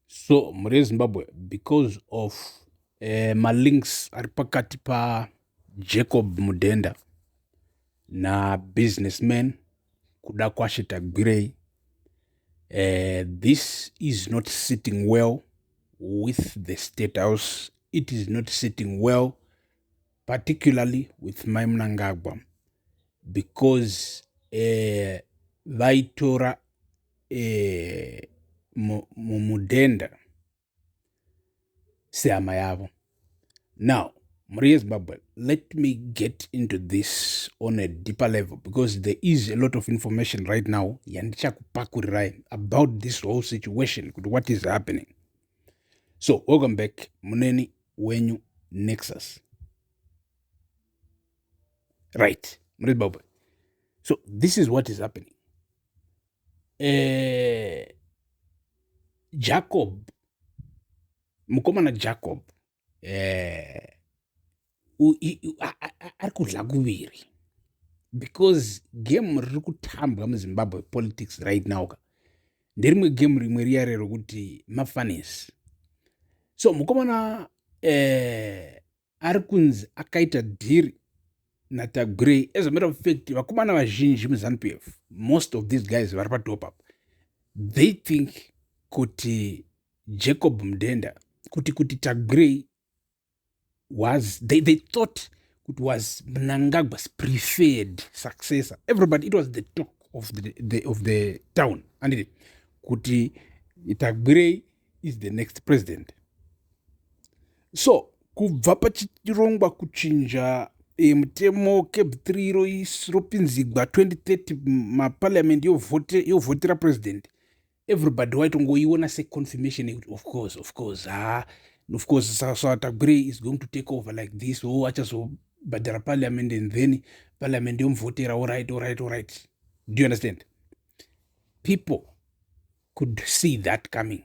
so mhuri yezimbabwe because of eh, malinks ari pakati pajacob mudhenda nabusinessman kuda kwashe tagwirei eh, this is not sitting well with the state house it is not sitting well particularly with mai munangagwa because eh, vaitora eh, mudhenda sehama yavo now mhuri yezimbabwe let me get into this on a deeper level because there is a lot of information right now yandichakupakurirai about this whole situation kuti what is happening so welcome back muneni wenyu nexus right mhuri yezimbabwe so this is what is happening eh, jacob mukomana jacob eh, ari kudla kuviri because game riri kutambwa muzimbabwe politics right now ka nderimwe game rimwe riya rerokuti mafanis so mukomana eh, ari kunzi akaita dhiri natagurei as a matter of fact vakomana vazhinji muzanup f most of these guys vari patop up they think kuti jacob mudenda kuti kuti tagurei was they, they thought kuti was mnangagwas preferred successor everybody it was the talk of the, the, of the town anditi kuti tagurei is the next president so kubva pachirongwa kuchinja e, mutemo cab 3 ropinzigwa 2030 maparliament yovhotera president everybody waitongoiona seconfirmation yekuti of course of course ha of course satagwirei so, so, is going to take over like this o oh, achazobhadhara parliament and then parliament yomuvhotera orit orit orit do you understand people could see that coming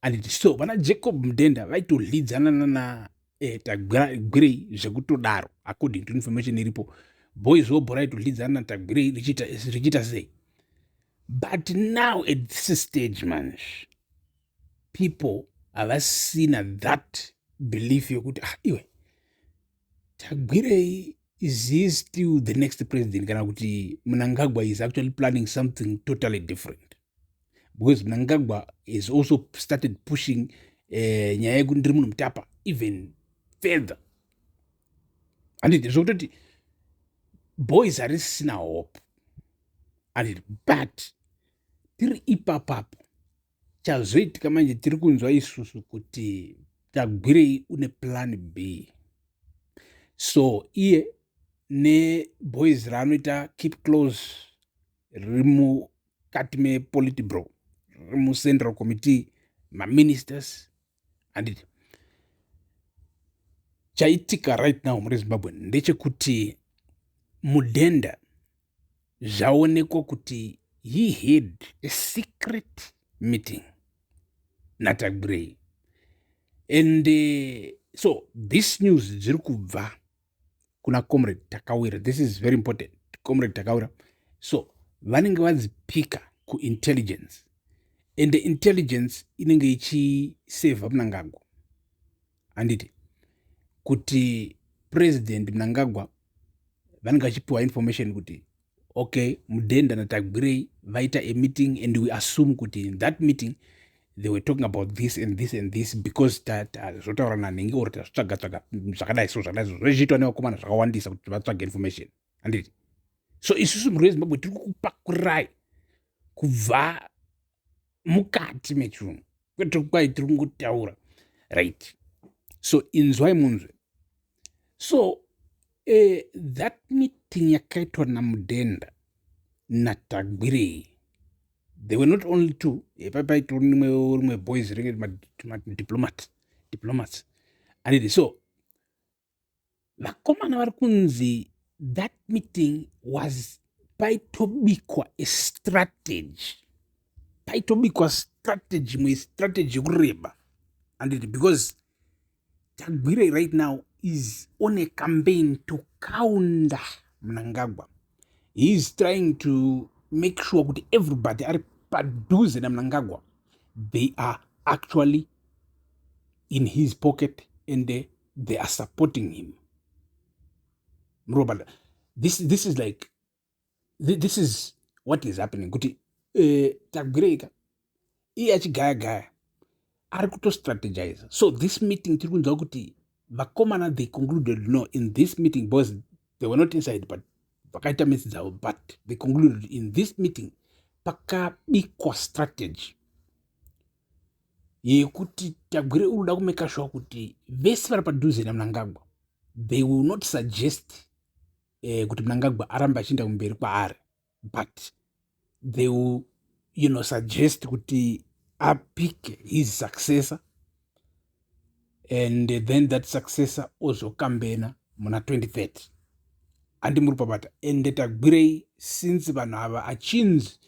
and so vana jacob mudenda vaitodlidzana nana eh, tagwirei zvekutodaro according to information iripo boys wobho raitodlidzana na tagwirei richiita sei but now at this stage manj people havasina that belief yekuti ah iwe tagwirei is he still the next president kana kuti mnangagwa is actually planning something totally different because mnangagwa has also started pushing eh, nyaya yekuti ndiri munhu mutapa even further anditi zvokutoti boys harisisina hope anditi but tiri ipapapo chazoitika manje tiri kunzwa isusu kuti tagwirei une plan b so iye neboys raanoita keep close riri mukati mepolitibro riri mucentral committee maministers handiti chaitika right now muri zimbabwe ndechekuti mudhenda zvaonekwa kuti he had a secret meeting natagbrey and uh, so this news dziri kubva kuna comrade takawira this is very important comrade takawira so vanenge vadzipika kuintelligence and the intelligence inenge ichiseva mnangagwa handiti kuti president mnangagwa vanenge vachipiwa information kuti okay mudhenda natagwirei vaita a meeting and we assume kuti in that meeting they were talking about this and this and this because zvotaura nanhingi or tazvitsvaga tsvaga zvakadai so zvakadai so zvezviitwa nevakomana zvakawandisa kuti vatsvage information handiti so isusu mhuri yezimbabwe tiri kukupakurai kubva mukati mechunhu kwete kwai tiri kungotaura right so inzwai munzwe so eh, that meeting yakaitwa namudenda natagwirei they were not only two epaipaito rimwe rimwe boys ringe madiplomat diplomats anidi so vakomana vari kunzi that meeting was paitobikwa estrategy paitobikwa strategy imwe strategy yekureba anditi because tagwirei right now is on a campaign to counter mnangagwa he is trying to make sure kuti everybody ari padhuze namnangagwa they are actually in his pocket and they they are supporting him murobada this, this is like this is what is happening kuti eh, tagwireika iye achigaya gaya ari kutostrategize so this meeting tiri kunzwa kuti vakomana they concluded no in this meeting because they were not inside but vakaita misi dzavo but they concluded in this meeting pakabikwa strategy yekuti tagwire unoda kumeka shuwa kuti vese vari padhuze namnangagwa they will not suggest eh, kuti mnangagwa arambe achienda kumberi kwaari but they will you know suggest kuti apike his successor and then that successor ozokambena muna 2030 handi muri pabata ende tagwirei since vanhu ava achinzi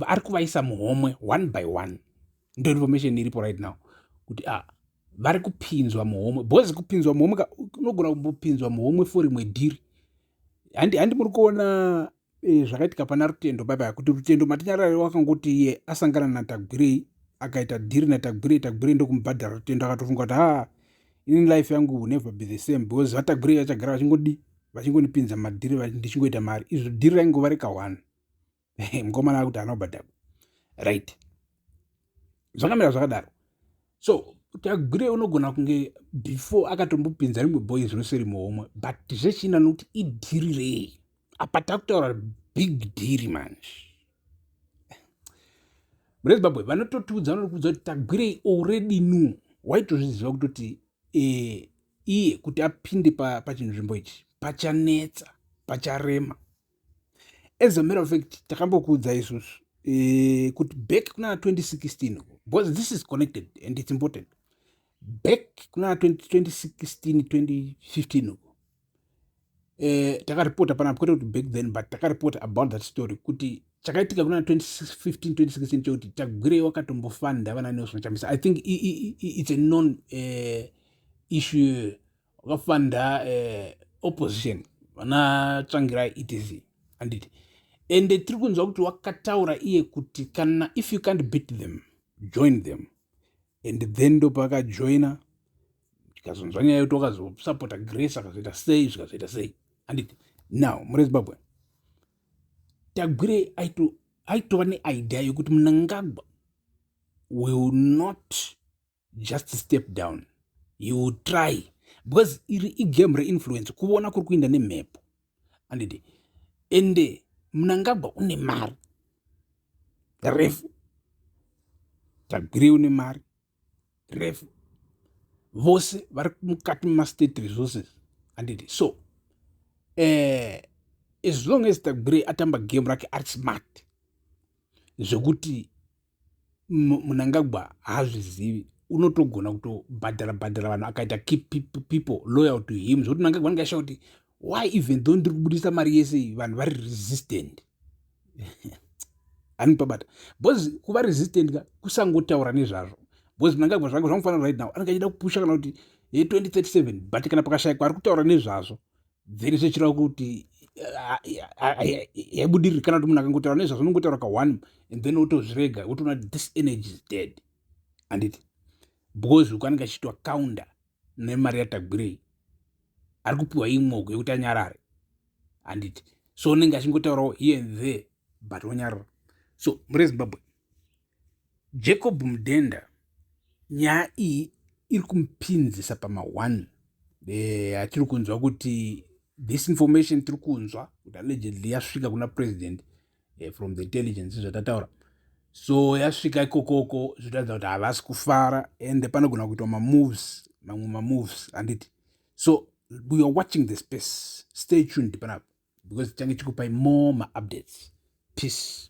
ari kuvaisa muhomwe one by one ndo information iripo right now kuti a ah, vari kupinzwa muhomwe bhozi kupinzwa muhomwe unogona kumbopinzwa muhomwe for rimwe dhiri handi muri kuona e, zvakaitika pana rutendo bye bye kuti rutendo matinyarare wakangoti iye asangana natagwirei akaita dhiri natagwirei tagwirei ndokumubhadhara rutendo akatofunga kuti ha ini life yangu will never be the same because vatagwirei vachagara vachingodi vachingondipinza madhiri ndichingoita mari izvo dhiri raingova reka one mukomana akuti haana kubhadhara right zvakamira zvakadaro so tagwire unogona kunge before akatombopinza rimwe boys rose rimhomwe but zvechina nokuti idhiri rei apa takutaura big dhiri manje mune zimbabwe vanototiudza vanokuudza kuti tagwirei already nu waitozviziva kutoti eh, iye kuti apinde pachinzvimbo pa ichi pachanetsa pacharema as a matter of fact takambokuudza isusu eh, kuti back kunana 2016 because this is connected and it's important back kunana 2016 2015 uko eh, takaripota panapa kwete kuti back then but takaripota about that story kuti chakaitika kuna 2015 2016 chekuti tagwirei wakatombofanda vana nelson chamisa i think it's a non uh, issue wakafanda eh, opposition vana tsvangirai etc anditi ende tiri kunzwa kuti wakataura iye kuti kana if you can't beat them join them and then ndopakajoina tikazonzwa nyaya yoti wakazosapota grace akazoita sei zvikazoita sei anditi now muri zimbabwe tagwire aitova neidea yokuti munangagwa will not just step down you try because iri igame reinfluence kuona kuri kuinda nemhepo andidi ende munangagwa une mari refu tagwirei une mari refu vose vari mukati memastate resources andidi so eh, as long as tagwirei atamba game rake ari smart zvekuti munangagwa haazvizivi unotogona kutobhadhara bhadhara vanhu akaita keep people loyal to him zvokuti munangagwa anenge ashaa kuti why even though ndiri kubudisa mari yese iyi vanhu vari resistant ani pabata bcause kuva resistant ka kusangotaura nezvazvo bcause munangagwa zvange zvamufanira right now anenge achida kupusha kana kuti ye 2037 but kana pakashayikwa ari kutaura nezvazvo then zvichireva kuti yaibudiriri kana kuti munhu akangotaura nezvazvinongotaura ka one and then wotozvirega wotoona kuti this energy is dead anditi because uku anenge achiitwa counter nemari yatagwirei ari kupiwa imwoko yekuti anyarare anditi so unenge achingotaurawo here and there but wonyarara so muri zimbabwe Jacob Mudenda nyaya iyi iri kumupinzisa pama one eh, atiri kunzwa kuti this information tiri kunzwa kuti allegedly yasvika kuna president eh, from the intelligence zvatataura so yasvika ikokoko zvotaridza kuti havasi kufara and panogona kuitwa mamoves mamwe mamoves handiti so we are watching the space stay tuned panapa because tichange tikupai more maupdates peace